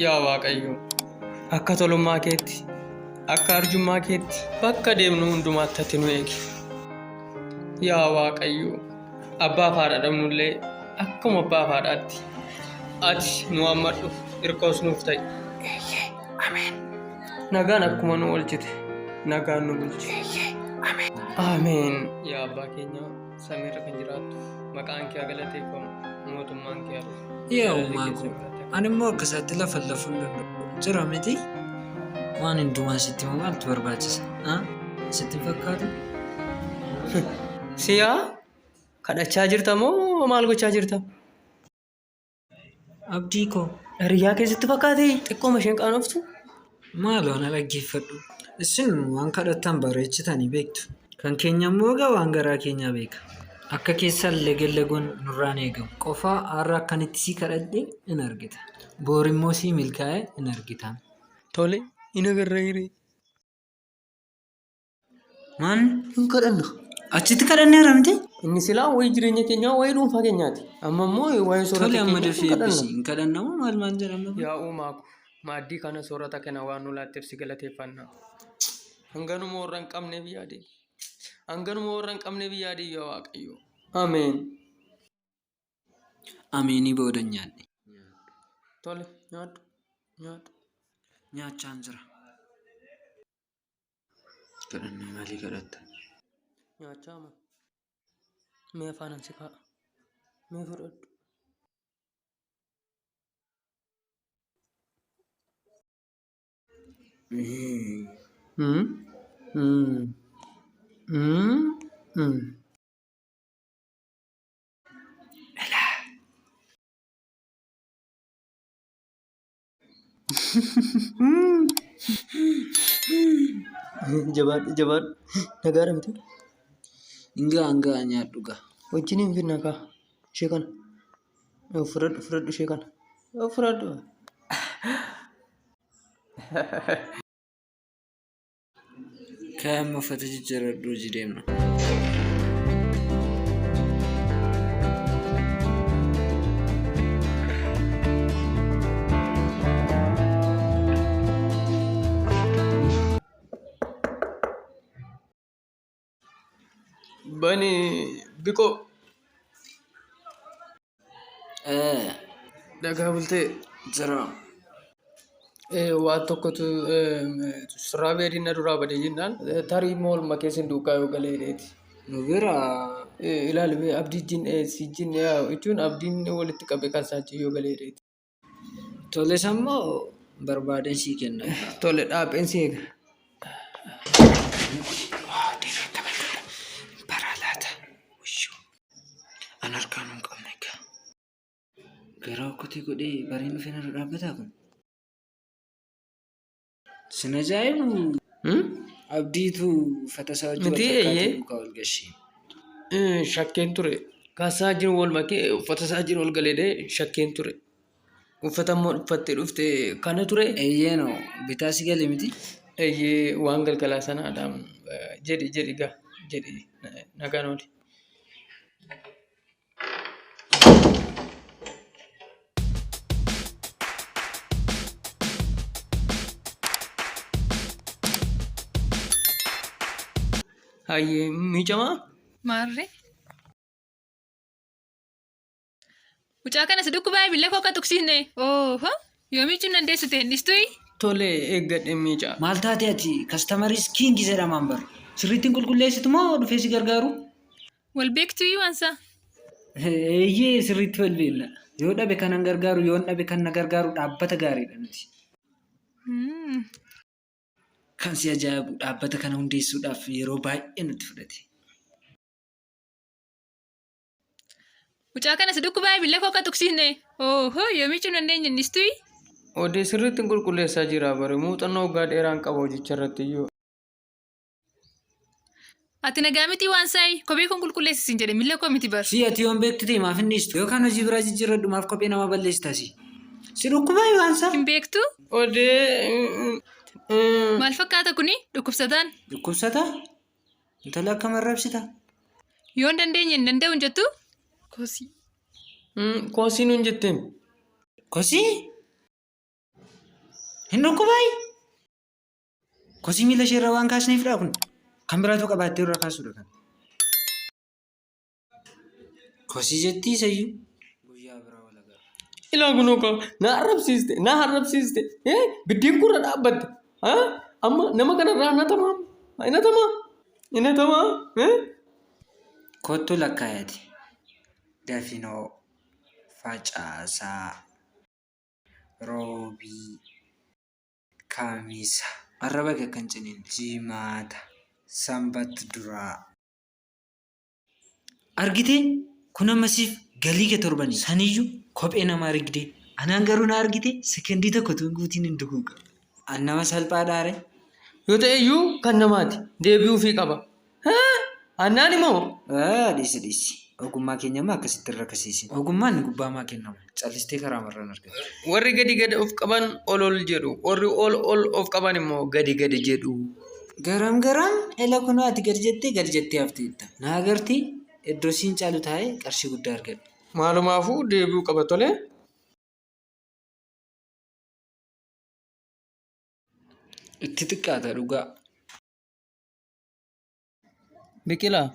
Yaa Waaqayyo, akka tolummaa keetti, akka arjummaa keetti, bakka deemnu hundumaatti ati nu eegi. Yaa Waaqayyo, abbaa fi haadha dhabnullee akkuma abbaa fi haadhaatti ati nu hammadhu, hirkoos nuuf ta'i. Nagaan akkuma nu oolchite, nagaan nu bulchi. Ameen. Yaa abbaa keenya. samii irra kan jiraattu maqaan kee haa galateeffamu mootummaan kee haa dhufu. Yaa Jaalalli uumaa kee koo. sirraa ta'e. Ani immoo akka isaatti lafa lafuun danda'u. Jira miti. Waan hundumaa sitti himu maaltu barbaachisa? Ah? Sitti hin fakkaatu? Siyaa kadhachaa jirta moo maal gochaa jirta? Abdii koo dhariyyaa keessatti fakkaate xiqqooma isheen qaanoftu maaloo ana dhaggeeffadhu. Isin waan kadhattan bareechitanii beektu. Kan keenya immoo egaa waan garaa keenyaa beeka. Akka keessan legellagoon nurraa hin eegamu. Qofaa har'a akkan itti sii kadhadhe in argita. Boor immoo sii milkaa'e in argita. Tole, in agarra hiree. Maal hin kadhanna? Achitti kadhanneera miti? Inni silaa wayii jireenya keenyaa wayii dhuunfaa keenyaati. Amma immoo waa'ee soorata Tole amma keenyaa dafee hin kadhanna. eebbisi. Hin kadhanna moo maal maal jedhama? Yaa uumaa ko, maaddii kana soorata kana waan nu laatteef si galateeffanna. Hanganuma warra hin qabneef yaade. Hanganuma warra hin qabneef yaade yaa Waaqayyo. Ameen. Ameenii booda nyaadhe. Tole, nyaadhu, nyaadhu. Nyaachaan jira. Kadhannaa maalii kadhatta? Nyaachaa moo? Mee afaanan si kaa'a. Mee fudhadhu. Mm, mm, mm, mm. Jabaadhu jabaadhu. Nagaa dhamte. Ingaa hangaa nyaadhu gaa. Wajjin hin finna kaa. Ishee kana. Yoo Fudhadhu fudhadhu ishee kana. Yoo Fudhadhu. Ka'e amma uffata jijjiirradhu hojii deemna. Bani biko. Eh, Daga bulte jira. Eh, waa tokkotu eh, surraa beediin na duraa bade jennaan eh, tarii immoo olma keessin duukaa yoo galee dheeti. Nu bira Eh, ilaali mee abdii jin eh, si jin yaa jechuun abdiin walitti qabe kan isaa jin yoo galee dheeti. Tole sammoo barbaadeen sii kenna. Tole dhaapheen si eega. Baraa laata. Ushuu. An harkaan hin qabne egaa. Garaa okkotii godhee bareen dhufee narra dhaabbataa kun. Sin ajaa'ibu Hmm? abdiitu uffata isaa wajjin Miti, wal fakkaatee eeyyee. duukaa ol gashee. Eh, Shakkeen ture. Kaasaa jiru wal makee uffata isaa jiru ol galee shakkeen ture. Uffata immoo uffattee dhufte kana ture. Eeyyee noo bitaa si gale miti. Eeyyee waan galgalaa sanaadhaan eh, jedhi jedhi gaa jedhi eh, nagaan ooli. Hayyee miicamaa. Maarree. Mucaa kana si dhukkubaa billee koo akka tuksiisne. Ooho. Yoomichuun dandeessu ta'e hin dhistui. Tole eeggadhe miicaa. Maal taate ati kastamariis kiingi jedhamaan bara. Sirriittiin qulqulleessitu moo dhufee si gargaaru? Wal beektuyyuu ansaa. Eeyyee sirriitti wal beekna. Yoo dhabe kanan gargaaru yoon dhabe kan na gargaaru dhaabbata gaariidha nuti. Hmm. Kan si ajaa'ibu dhaabbata kana hundeessuudhaaf yeroo baay'ee nutti fudhate. Mucaa kana si dhukkubaa billee koo akka tuqsiisne. Oohoo yoomii cimna hin deenye innis tuyi. Odee sirriitti hin qulqulleessaa jira bare muuxannoo waggaa dheeraan qaba hojicha irratti iyyuu. Ati nagaa miti waan sa'i kophee kun qulqulleessi siin jedhe miila koo miti bar. Si ati yoon beektu ta'e maaf hin dhiistu? Yookaan hojii biraa jijjiirradhu maaf kophee namaa balleessita si? Si dhukkubaa waan sa'a? Hin beektu? Odee. Maal fakkaata kuni dhukkubsataan? Dhukkubsata? Intala akka marrabsita? Yoo hin dandeenye hin danda'u hin jettu? Kosii. Koosii nuun jetteen. Kosii? Hin dhukkubaa? Kosii miila ishee irra waan kaasneefidha kun. Kan biraatu qabaattee irra kaasuudha kan. Kosii jettii isayyuu. Guyyaa biraa wal agarra. Ilaa kunoo kaa na arrabsiiste na arrabsiiste ee biddeen kurra dhaabbatte haa amma nama kanarraa na tamaa na tamaa na tamaa ee Kottu lakkaayati. Dafinoo facaasaa roobii. Kamisa. Arraba kee akka hin ciniin. Jimaata. Sambat duraa. Argitee? Kun amma siif galii kee torbanii. Saniyyuu kophee nama argdee. Anaan garuu na argitee sekendii tokko tuun guutiin hin duguuga. An nama salphaadhaare? Yoo ta'eyyuu kan namaati. Deebi'uufii qaba. Annaani moo? Dhiisi dhiisi. Ogummaa keenya amma akkasitti irra kasiisi. Ogummaan gubbaamaa kennama. Callistee karaa marraan argata. Warri gadi gadi of qaban ol ol jedhu. Warri ol ol of qaban immoo gadi gadi jedhu. Garam garam ela kunoo ati gad jettee gad jettee hafteetta. Na agartii? Iddoo siin caalu taa'ee qarshii guddaa argadhe. Maalumaafuu deebi'uu qaba tole. Itti xiqqaata dhugaa. Biqilaa.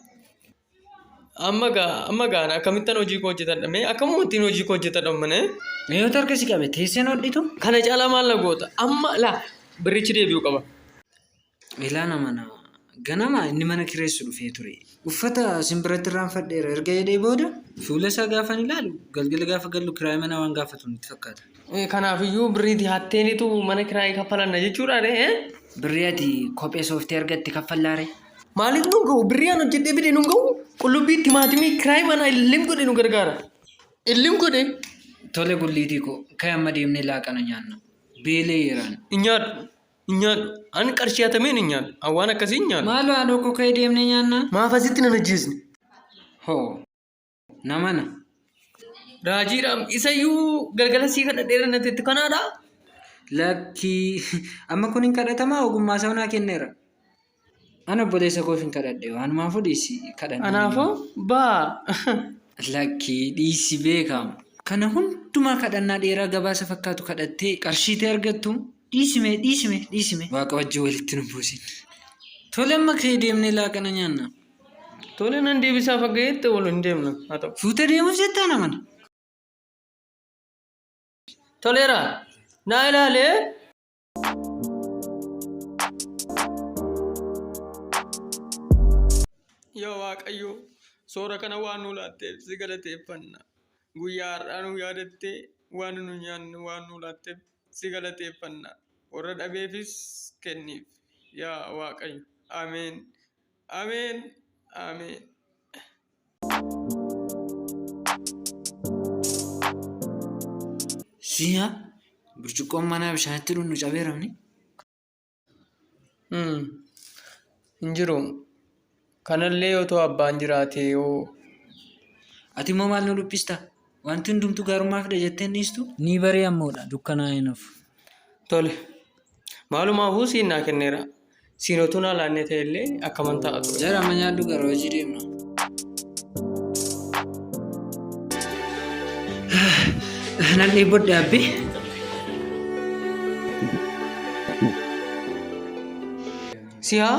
Amma gaa amma gaana akkamittan hojii koo hojjetadha mee akkamuma ittiin hojii koo hojjetadha ummane Mee yoo harka si qabe teessee hin hodhitu? kana caalaa maal na goota amma laa birrichi deebi'uu qaba. Ilaa nama nama. Ganama inni mana kireessu dhufee ture. Uffata sin biratti irraanfadheera erga jedhee booda fuula isaa gaafan ilaalu galgala gaafa gallu kiraayii manaa waan gaafatu natti fakkaata. Kanaafiyyuu birrii dihatteenitu mana kiraayii kaffalanna jechuudha ree? eh? Birrii ati kophee sooftii argatte kaffallaare. Maaliif nu ga'u? Birrii an hojjedhee fide nu ga'u? Qullubbii, timaatimii, kiraayii manaa illim godhe nu gargaara. Illim godhe Tole gulliitii koo ka'e amma deemnee laaqana nyaanna. Beelee yeeraan. hin nyaadhu. Hin nyaadhu. An qarshii hatameen hin nyaadhu. An waan akkasii hin nyaadhu. Maaloo haadhoo koo ka'e deemnee nyaanna. Maaf asitti nan ajjeesne? Hoo. namana. Raajiidhaam isayyuu galgala sii kana dheera natti itti kanaadha. Lakkii amma kun hin kadhatamaa ogummaa isaa naa kenneera. An obboleessa koof hin kadhadhe waanumaafuu dhiisi kadhanne. Anaafoo baa. Lakkii dhiisi beekaam. Kana hundumaa kadhannaa dheeraa gabaasa fakkaatu kadhattee qarshiitee argattu dhiisime dhiisime dhiisime. Waaqa wajjin walitti nu buusin. Tole amma ka'ee deemnee laaqana nyaanna. Tole nan deebisaa faggeetti wal hin deemna. Haa ta'u. Fuutee deemus jettaa namani. Toleera. Naa ilaalee. Yaa Waaqayyo, soora kana waan nu laatteef si galateeffanna. Guyyaa har'aa nu yaadattee waan nu nyaannu waan nu laatteef si galateeffanna. Warra dhabeefis kenniif. Yaa Waaqayyo. Ameen. Ameen Ameen. Si'a burcuqqoon manaa bishaanitti dhunnu cabeeramni. Hmm. Hin jiru. Kanallee otoo abbaan jiraatee yoo Ati immoo maal nu dhiphistaa? Wanti hundumtuu gaarummaa fida jettee hin dhiistu? Ni barii ammoodha, dukkanaa'ee hin hafu. Tole. Maalumaafuu siin naa kenneera. Siin otuu naa laannee ta'e illee akkaman ta'a ture. Jara amma nyaadhu gara hojii deemna. Nan dhiibbodha abbi. Siyaa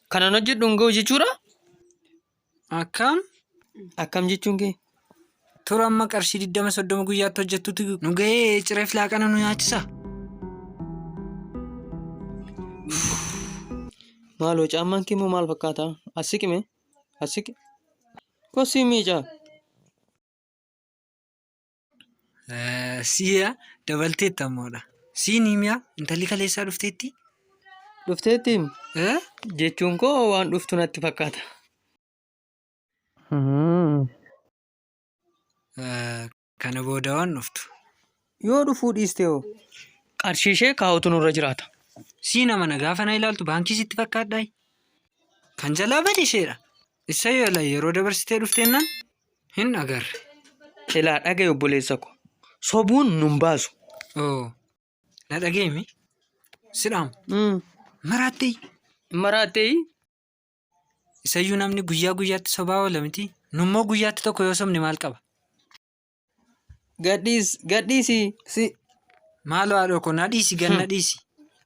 Kanan hojjedhu hin ga'u jechuudha. Akkam? Akkam jechuun kee? Tura amma qarshii 20 soddoma guyyaatti hojjettutti nu gahee cireef laaqana nu nyaachisa. Maaloo caammaan kee immoo maal fakkaata? As siqi mee? As siqi. Kosii miicaa. Siya dabalteetta ammoodha. Siin himiya intalli kaleessaa dhufteetti. Dhufteettiin Eh? jechuun koo waan dhuftu natti fakkaata. Eh, Kana booda waan dhuftu. Yoo dhufuu dhiiste hoo? Qarshii ishee kaa'utu nurra jiraata. Sii nama na gaafa na ilaaltu baankii sitti fakkaadhaa? Kan jalaa bade isheedha. Isa yoo ilaalle yeroo dabarsitee dhufteennaan Hin agarre. Silaa dhagaye obboleessa ko. Sobuun nun baasu. Oo. Na dhageemi. Sidhaam. Mm. Maraattee. Maraattee Isayyuu namni guyyaa guyyaatti sobaa oola miti. Nummoo guyyaatti tokko yoo sobne maal qaba? gadhiis gadhiisi si Maaloo haadhoo koo na dhiisi gan na dhiisi.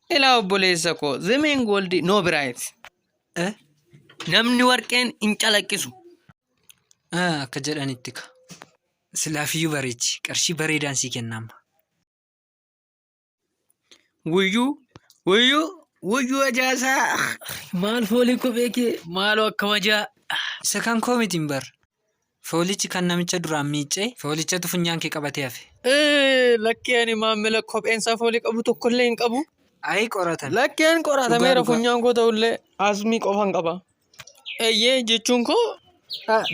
ilaa obboleessa ko. Zemeen gooldi noo biraayit. Eh? Namni warqeen hin calaqqisu. Ah, akka jedhanitti ka. Silaafiyyuu bareechi. Qarshii bareedaan sii kenna amma. Wuyyuu, wuyyuu, wuyyuu ajaasaa. Maal foolii koo beekee? Maaloo akka wajaa. Isa kan koo miti hin bar. Foolichi kan namicha duraan miiccee foolichatu funyaan kee qabatee hafe. Ee, lakkee ani maamila kopheensaa foolii qabu tokkollee hin qabu. Ayi qoratame. Lakkeen qoratameera Dhugaa, dhugaa. funyaan koo ta'ullee asmii qofan qaba. Eeyyee jechuun koo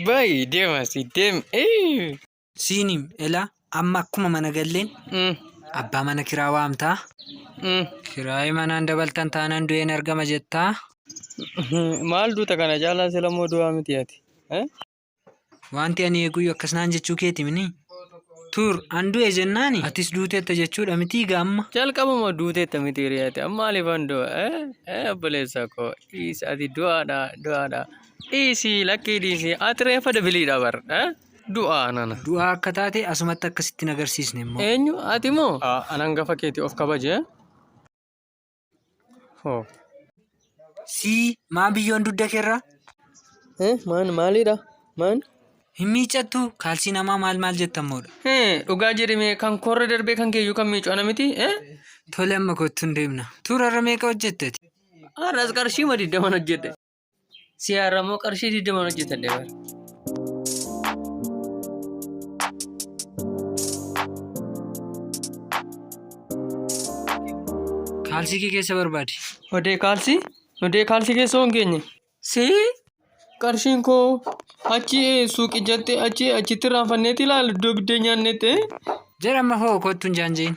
baay'ee deema si deem. Ee. Siinim ela amma akkuma mana galleen Mm, abbaa mana kiraa waamtaa mm. kiraayi manaan dabaltan taanaan du'een argama jettaa Maal duuta kana caalaa sila moo du'aa miti ati? Eh? Wanti ani eeguyyuu akkas naan jechuu keeti mini. Tur, an du'e jennaani. Atis duuteetta jechuudha mitii gaa amma. Jalqabuma duuteetta miti hiriyaati. Amma alifan du'a. Eh, eh, obboleessa koo. Dhiisi ati du'aadha, du'aadha. Dhiisi, lakkii dhiisi. Ati reeffa debiliidha bar. Eh, du'a nana. Du'aa akka taate asumatti akkasitti hin agarsiisne immoo. Eenyu ati moo? An hangafa keeti of kabaje. Hoo. Sii maa biyyoon dugda keerra Eh, maan maalidha? Maan? hin miiccattu kaalsii namaa maal maal jettammoodha. Eh, dhugaa jedhime kan korra darbee kan keeyyuu kan miicu ana miti. Eh, Tole amma kottuun deemna. Tuurarra meeqa hojjetteti? har'as qarshii madiiddaman hojjedhe. Si haaramoo qarshii digdamaan hojjetadhe bara. Kaalsii kee keessa barbaadi. Odee kaalsii? Odee kaalsii keessa hoo hin geenye? Si qarshiin koo achi eh, suuqii jette achi achitti raanfanneeti ilaala iddoo biddeen nyaannetti. eh. Jedhama hoo kottu hin jaanjiin.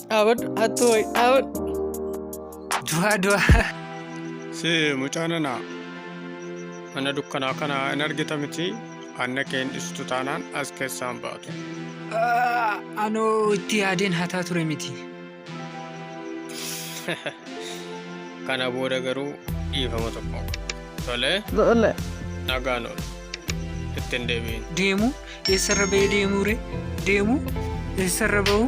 Dhaabadhu hattuu wayi dhaabadhu. Du'aa du'aa. Si mucaa nana mana dukkanaa kana hin argita miti anna kee hin dhistu taanaan as keessaan baatu. Ah, Anoo itti yaadeen hataa ture miti. Kana booda garuu dhiifama tokko. Tole Tole. nagaan oolu. Ittiin deebiin. Deemu eessarra ba'ee deemuu ree? Deemu eessarra ba'uu?